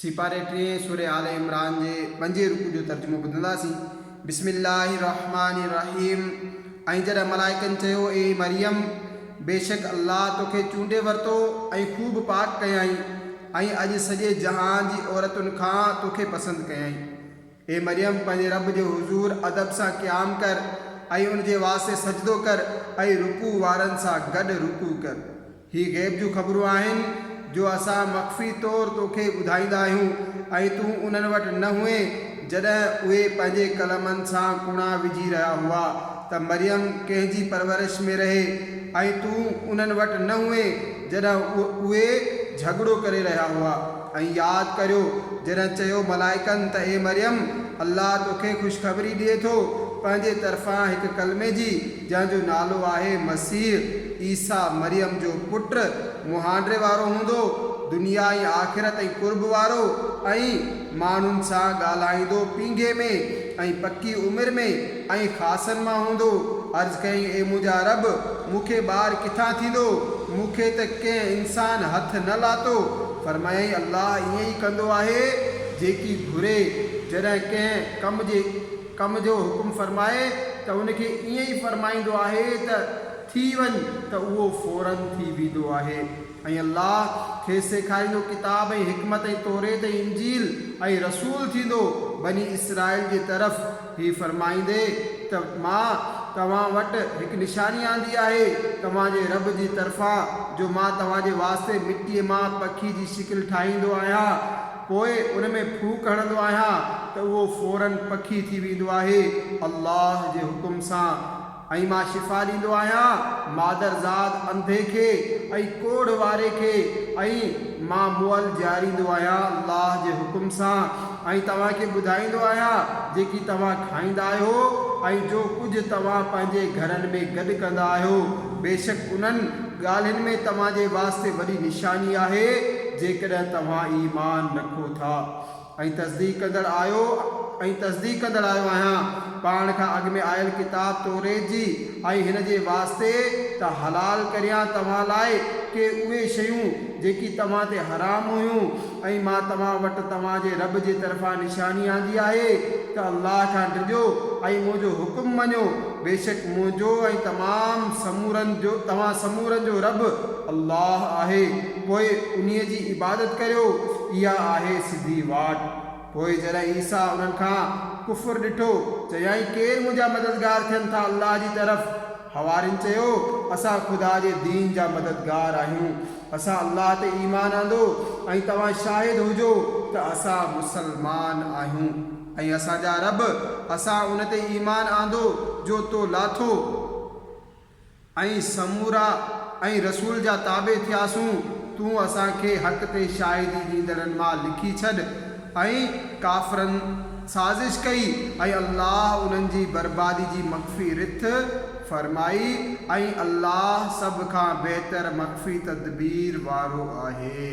سيپاري ٽينء سورة آل عمران جي پنجين رڪوع جو ترجمو ٻڌنداسين، بسم الله الرحمٰن الرحيم ۽ جڏهن ملائڪن چيو، اي مريم! بيشڪ الله توکي چونڊي ورتو ۽ خوب پاڪ ڪيائين ۽ اڄ سڄي جهان جي عورتن کان توکي پسند ڪيائين. اي مريم! پنهنجي رب جي حضور ادب سان قيام ڪر ۽ ان جي واسطي سجدو ڪر ۽ رڪوع وارن سان گڏ رڪوع ڪر. هي غيب جون خبرون آهن، جو اسان مخفي طور تو کي ٻڌائيندا آهيون ۽ تون انهن وٽ نه هئين جڏهن اهي پنهنجي ڪلمن سان ڪوڙا وجهي رهيا هئا ته مريم ڪنهن جي پرورش ۾ رهي ۽ تون انهن وٽ نه هئين جڏهن اهي جهڳڙو ڪري رهيا هئا ۽ ياد ڪريو جڏهن چيو ملائڪن ته اي مريم الله تو کي خوشخبري ڏئي ٿو پنهنجي طرفان هڪ ڪلمي جي جنهن جو نالو آهي مسيح عيسيٰ مريم جو پٽ، مهانڊري وارو هوندو، دنيا ۽ آخرت ۽ قرب وارو ۽ ماڻهن سان ڳالهائيندو پينگهي ۾ ۽ پڪي عمر ۾ ۽ خاصن مان هوندو. عرض ڪيائين اي منهنجا رب! مون کي ٻار ڪٿان ٿيندو؟ مون کي ته ڪنهن انسان هٿ نه لاتو. فرمايائين الله ائين ئي ڪندو آهي جيڪي گهري جڏهن ڪنهن ڪم جي. ڪم جو حڪم فرمائي ته ان کي ائين ئي فرمائيندو آهي ته ٿي وڃ ته اهو فوراً ٿي ويندو آهي ۽ الله کيس سيکاريندو ڪتاب ۽ حڪمت ۽ توريت ۽ انجيل ۽ رسول ٿيندو بني اسرائيل جي طرف هي فرمائيندي ته مان توهان وٽ هڪ نشاني آندي آهي توهان جي رب جي طرفان جو مان توهان جي واسطي مٽيء مان پکي جي شڪل ٺاهيندو آهيان پوء ان ۾ ڦوڪ هڻندو آهيان ته اهو فوراً پکي ٿي ويندو آهي الله جي حڪم سان ۽ مان شفا ڏيندو آهيان مادرزاد انڌي کي ۽ ڪوڙهه واري کي ۽ مان مئل جياريندو آهيان الله جي حڪم سان ۽ توهان کي ٻڌائيندو آهيان جيڪي توهان کائيندا آهيو ۽ جو ڪجهه توهان پنهنجي گهرن ۾ گڏ ڪندا آهيو بيشڪ انهن ڳالهين ۾ توهان جي واسطي وڏي نشاني آهي جيڪڏهن توهان ايمان رکو ٿا ۽ تصديق ڪندڙ آهيو ۽ تصديق ڪندڙ آهيو آهيان پاڻ کان اڳ ۾ آيل ڪتاب توريت جي ۽ هن جي واسطي ته حلال ڪريان توهان لاء ڪي اهي شيون جيڪي توهان تي حرام هيون ۽ مان توهان وٽ توهان جي رب جي طرفان نشاني آندي آهي ته الله کان ڊڄو ۽ منهنجو حڪم مڃو، بيشڪ منهنجو ۽ تمام سمورن جو توهان سمورن جو رب الله آهي، پوء انهيء جي عبادت ڪريو، اها آهي سڌي واٽ. پوء جڏهن عيسيٰ انهن کان ڪفر ڏٺو، چيائين، ڪير منهنجا مددگار ٿين ٿا الله جي طرف؟ حوارين چيو، اسان خدا جي دين جا مددگار آهيون، اسان الله تي ايمان آندو ۽ توهان شاهد هجو ته اسان مسلمان آهيون ۽ اسان جا رب اسان ان تي ايمان آندو جو تو لاٿو ۽ سمورا ۽ رسول جا تابع ٿياسون، تون اسان کي حق تي شاهدي ڏيندڙن مان لکي ڇڏ ۽ ڪافرن سازش ڪئي ۽ الله انهن جي بربادي جي مخفي رٿ فرمائي ۽ الله سڀ کان بهتر مخفي تدبير وارو آهي.